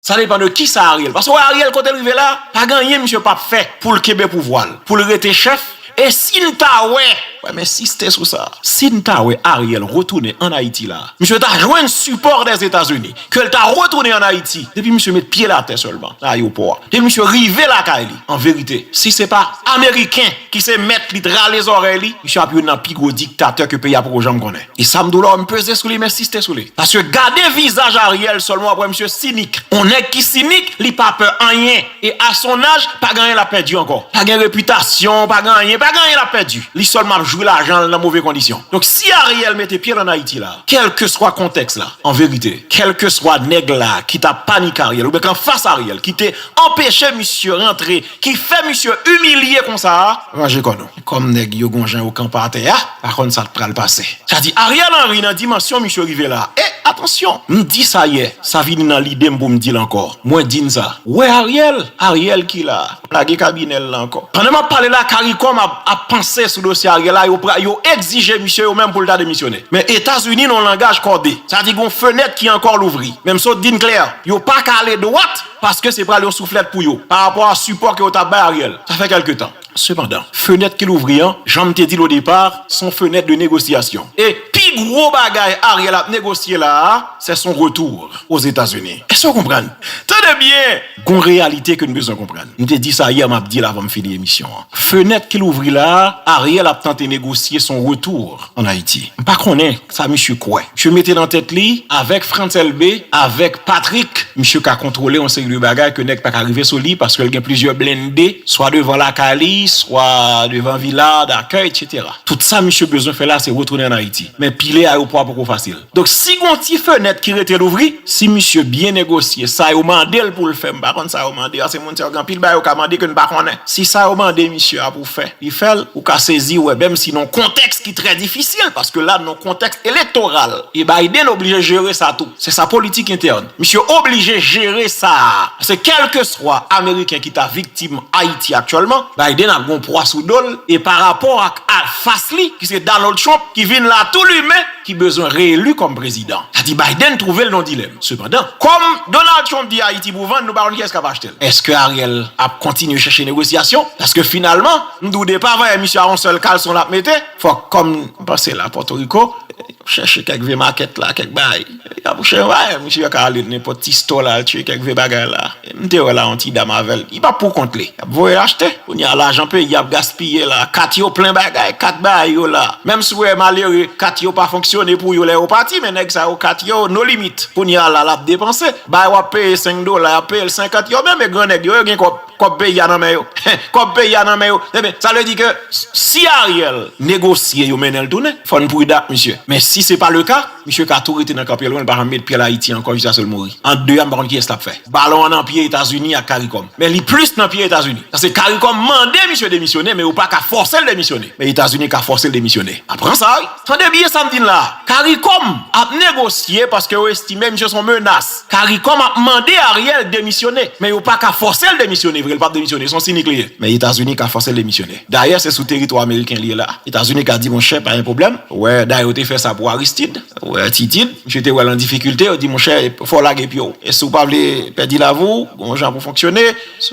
Sa depan de kisa Ariel, paske wè Ariel kotel rive la, pa gen anyen misye pap fè poul kenbe pouvwal, poul rete chèf, e sin ta wè, wè men siste sou sa, sin ta wè Ariel retounen an Ayiti la, misye ta jwenn sipò dè Etazini, kel ta retounen an Ayiti, depi misye met pyel atè sèlman nan ayewopò a, depi misye rive lakay li, an verite, si se pa ameriken ki se mèt li t rale zòrèy li, misye ap youn nan pi gwo diktatè ke peyi a poko janm konnen. E sam diw la wèm peze sou li m ensiste sou li paske gade vizaj Ariel sèlman wap wè misye sinik on nèg ki sinik li pa pè anyen e a son aj pa gen anyen lap pèdi ankò pa gen repitasyon pa gen anyen pa gen anyen lap pèdi li sèlman ap jwi lajanl nan move kondisyon donk si Ariel mete pyel an Ayiti la kèlkeswa kontèks la anverite kèlkeswa nèg la ki ta panik Ariel oubyen k anfas Ariel ki te anpeche misye rantre Ki fè misye imilye konsa a ranje kò nou. Kòm nèg yo gon jan yo kanpe atè a pa konn sa k pral pase. Sa di Ariel Henry nan dimansyon misye rive la e atansyon m di sa yè sa vini nan lide m pou m di l ankò mwen di n sa wè Ariel Ariel ki la lage kabinè l la ankò. Pandan m ap pale la caricom ap panse sou dosye Ariel la yo pra yo egzije misye yo menm pou l ta demisyone men etazini nan yon langaj kòde sa di gon fenèt ki ankò louvri men m sot di n klè yo pa ka ale dwat paske se pral yon souflèt pou yo pa rapò a sipò ke yo tap bay Ariel sa fè kèlke tan. Sepandan, fenèt ki louvri an, janm te dil o depar, son fenèt de negosyasyon e pi gwo bagay Ariel ap negosye la a, sè son retour Ozetazini. Èske ou konprann? Tande byen! Gon reyalite ke n bezwen konprann. M te di sa yè, map dil avan m fini emisyon an. Fenèt ki louvri la a, Ariel ap tante negosye son retour. an Ayiti. M pa konnen sa misye kwè. Misye mete nan tèt li, avèk Frantz Elbé, avèk Patrick, misye ka kontwole yon seri de bagay ke nèg pa ka rive sou li paske l gen plizyè blende, swa devan lakay li, swa devan vila dakèy, etc. Tout sa misye bezwen fè la se retounen an Ayiti. Men pile ayewopò a poko fasil. Donk si gon ti fenèt ki rete louvri, si misye byen negosye sa yo mande l pou l fè, m pa konn sa yo mande paske moun sa yo gen anpil bagay yo ka mande ke n pa konnen. Si sa yo mande misye a pou fè, li fè l, ou ka sezi wè menm si nan kontèks ki trè difisil paske la nan kontèks elektoral e Biden oblije jere sa tou. Se sa politik entèn. Misye oblije jere sa a paske kèlkeswa ameriken ki ta viktim Ayiti aktyèlman, Biden ap gen yon pwa sou do l e pa rapò ak anfas li ki se Donald Trump ki vin la tou limen, ki bezwen reelu kòm prezidan. Sa di Biden twouve l nan yon dilèm. Sepandan, kòm Donald Trump di Ayiti pou vann, nou pa konn kiyès k ap achte l. Eske Ariel ap kontinye chèche negosyasyon? Paske finalman, m di w depa vayè misye a yon sèl kalson l ap mete. Fòk kòm m panse la Pòtoriko, chèche kèk vye makèt la, kèk bagay. Apouche yon vayè, misye ka ale nenpòt ti store la al chèche kèk vye bagay la. M te wè la yon ti dam avèl li pa pou kont li yap voyel achte kounye a lajan peyi ap gaspiye la kat yo plen bagay kat bay yo la menm si w wè malere kat yo pa fonksyone pou yo lè yo pati men nèg sa yo kat yo no limit kounye a la lap depanse bay wap peye 5 dola yap peyel 50 yo menm e gran nèg yo yo gen kòb kòb peyi a nan men yo kòb peyi a nan men yo ebyen sa vle di ke si Ariel negosye yo mennenl tounen fòn prudan ak misye men si se pa le ka. Misye ka tou rete nan kan Pelwen li pa janm met pyel Ayiti ankò jiskaske li mouri. Ant 2 a m pa konn kiyès lap fè. Balon an nan pye Etazini ak Caricom. Men li plis nan pye Etazini. Paske Caricom mande misye demisyone men yo pa ka fòse l demisyone. Men Etazini ka fòse l demisyone. A pran sa wi. Tande byen sa m di n la a. Caricom ap negosye paske yo estime misye son menas. Caricom ap mande Ariel demisyone. Men yo pa ka fòse l demisyone vre. L pap demisyone. Son sinik li ye. Men Etazini ka fòse l demisyone. Dayè se sou teritwa ameriken li ye la. Etazini ka di monchè pa gen pwoblèm, wè dayè yo te fè sa pou Aristid, wè Titid, misye te wè l an difikilte yo di monchè fò w lage pye w e si w pa vle pèdi lavi w gon jan pou w fonksyone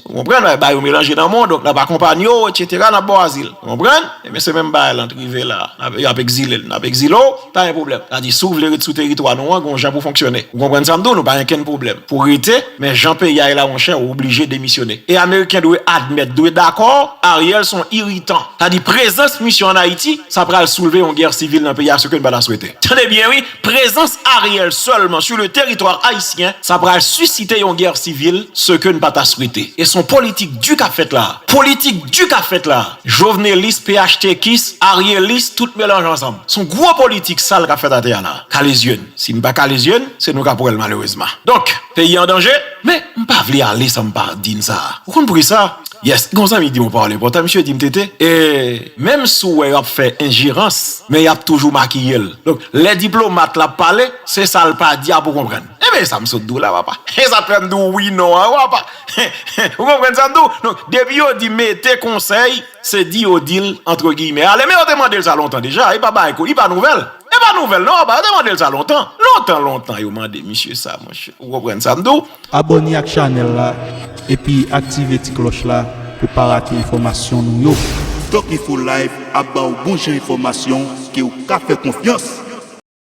ou konprann nan bay ou melanje nan mond donk n ap akonpanye w etsetera n ap ba w azil ou konprann ebyen se menm bagay la n t rive la yo ap ekzile l n ap ekzile w pa gen pwoblèm sa di si w vle ret sou teritwa nou an gon jan pou w fonksyone ou konprann sa m di w nou pa gen kenn pwoblèm pou w rete. Men jan peyi a ye la monchè ou oblije demisyone. E ameriken dwe admèt, dwe dakò, Ariel son iritan. Sa di prezans misyon an Ayiti, sa pral soulve yon gè sivil nan peyi a, se ke n pa ta swete. Tande byen wi, prezans Ariel sèlman su le teritwa ayisyen, sa pral sisite yon gè sivil, se ke n pa ta swete. E son politik di k ap fèt la a. Politik di k ap fèt la a. Jovenelis, phtk-is, aryelis, tout melanj ansanm. Son gwo politik sal k ap fèt atè a la a. Kale zye n. Si n pa kale zye n, se nou k ap wè l malerezman. Donk, peyi an danje? Men, m pa vle ale san m pa di n sa a. Ou konn pri sa? Yes, gen yon zanmi ki di m yon pawòl enpòtan, misye di m, TT, e, menm si w wè yo ap fè enjerans, men y ap toujou makiye l. Donk, lè diplomat la ap pale, se sa l pa di a pou w konprann. Enben, e sa m sot di w la, papa? E sa k fè m di w wi non an, papa? Ou konprann sa m di w? Donk, depi yo di mete konsèy, se di yo di l, antre giyimè, ale. Men yo te mande l sa lontan deja. E pa bagay kou, e pa nouvèl. E pa nouvèl non apa yo te mandel sa lontan lontan lontan yo mande misye sa monchè ou konprann sam di w. Abòne ak chanèl la epi aktive ti klòch la pou pa rate enfòmasyon nou yo. Doc Info Live ap ba w bon jan enfòmasyon ke w ka fè konfyans.